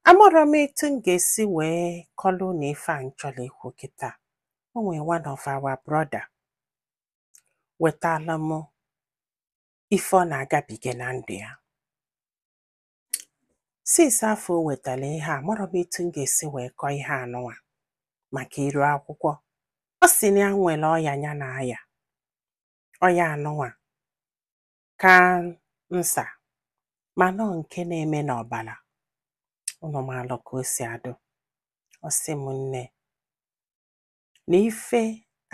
Amarọ m etu m ga-esi wee kọlụ unu ife a m chọrọ ikwu kịta. O nwee one of our brother wetara m ife ọ na-agabiga na ndụ ya. Since afọ o wetara ihe a, amarọ m etu m ga-esi wee kọọ ihe anụnwa maka iru akwụkwọ. Ọ sị na ya nwere ọya ya na-aya. Ọya anụnwa cancer mana ọ nke na-eme n'ọbara unu maalụ ka o si adụ ọ sị m nne na ife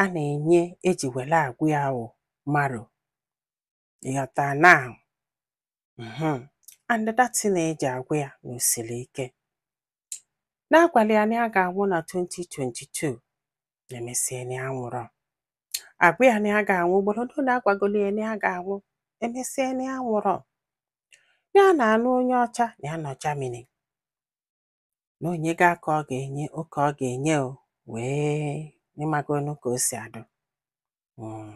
a na-enye eji were agwụ ya wụ marrow ịghọta na mhm, and that thing eji agwụ ya na o siri ike na agwala ya na ya ga-anwụ na 2022 emesie na ya anwụrọ agwa ya na ya ga-anwụ ugboro ole na agwagolo ya na ya ga-anwụ emesie na ya anwụrọ na ya na-anụ onye ọcha na ya nọ Germany na onye ga ka ọ ga-enye oke ọ ga-enye o wee ịmagonu ka o si adụ Mm.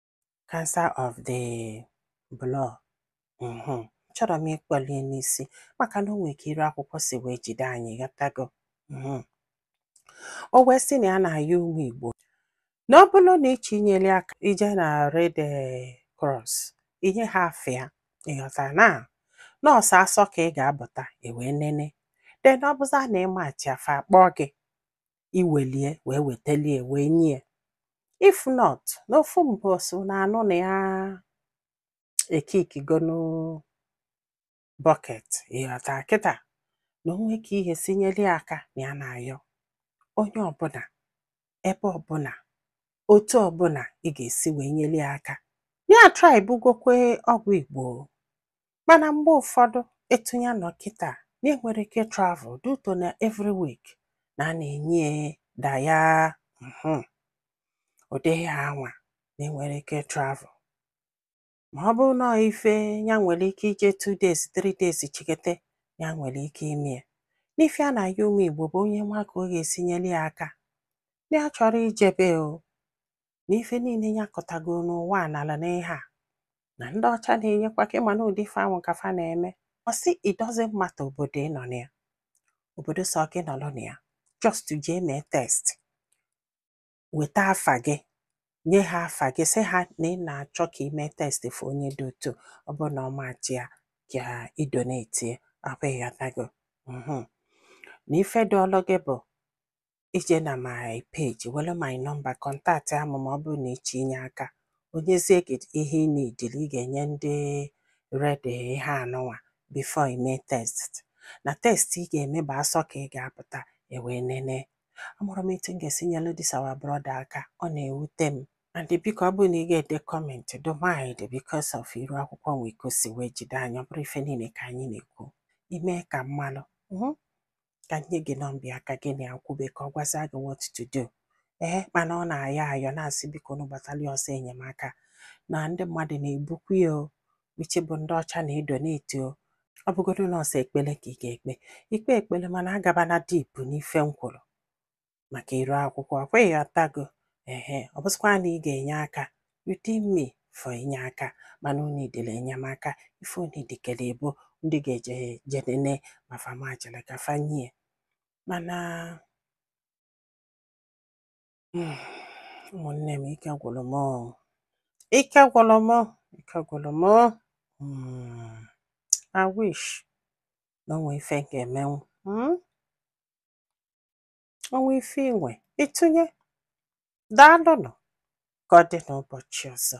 cancer of the blood mhm chọrọ m ịkpọlie n'isi maka na o nwere ka iru akwụkwọ si wee jide anyị ịghọtago mhm o wee sị na ya na-ayọ ụmụ Igbo na ọ bụrụ na ị chọọ inyere ya aka ije na Red eh, Cross i nye ha afa ya ịghọta na na ọọ sọ asọ ka ị ga-abụta ewee nene then ọ bụza na ị match ya fa akpọọ gị iwelie wee wetelie wee nye ya if not n'ofu mbọsị na anụ na ya ekikigonu bucket ịghọta kịta na o nwe ka ihe si nyeli aka na ya na-ayọ onye ọbụla ebe ọbụla otu ọbụla ị ga-esi wee nyeli aka ya atrybugokwe ọgwụ Igbo Mana mgbe ụfọdụ etu ya nọ kịta na enwerọ ike travel due to na every week na a na-enye da ya mhm. ụdị ihe anwa na enwerọ ike travel ma ọ bụrụ na ife ya nwere ike ije 2 days 3 days chikete ya nwere ike ime ya na ife ya na-ayọ ụmụ Igbo bụ onye nwee ka ọ ga-esi nyere ya aka na ya achọrọ ijebe o na ife niile ya kọtago n'ụwa na-ala n'ihe a na ndị ọcha na-enyekwa aka ị ma na ụdị ife ahụ ka fa na-eme ọ sị it doesn't matter obodo ị nọ na ya obodo sọ gị nọrọ na ya just jee mee test weta afa gị nye ha afa gị sị ha na ị na-achọ ka ị mee test for onye dị otu ọ bụrụ na ọ match ya ka ị donate akwa ịghọtago mhm na ife dị ọlụ gị bụ i jee na my page were my number contactịa mụ ma ọ bụrụ na ị chọ inye aka o nyezie gị ihe ị na-edili ị ga-enye ndị red ihe a nụnwa before i mee test na test ị ga-eme bụ asọ ka ị ga-apụta e wee nene amarọ m etu m ga-esi nyelu this our brother aka ọ na-ewute m and biko ọ bụrụ na ị ga-ede comment do mind because of iru akwụkwọ nwee ka o si wee jide anyị ọ bụrọ ife niile ka anyị na-ekwu i mee ka m malụ ka nye gị number ya ka gị na ya kwube ka ọ gwazia gị what to do ee mana ọ na-ayọ ayọ na-asị biko na gbatalụ ya ọsọ enyemaka na ndị mmadụ na-ebukwu ya o uche bụ ndị ọcha na-edonate o ọ bụgodu na ọ sọ ekpele ka ị ga-ekpe i kpee ekpele mana agabana deep n'ife m kwuru maka iru akwụkwọ ọ kwa ị ghọtago ehe ọ bụzikwa na ị ga-enye aka within me for inye aka mana unu edele enyemaka ife unu dekele ebo ndị ga-eje jee nene ma fa machele ka fa nyie mana mm, ụmụnne m ike gwụlụ m oo. ike gwụlụ m oo. ike gwụlụ m oo. Mm, I wish na o nwe ife m ga-emenwu mm? o nwee ife i nwe ịtụnye daalụnụ ka ọ dị n'ụbọchị ọzọ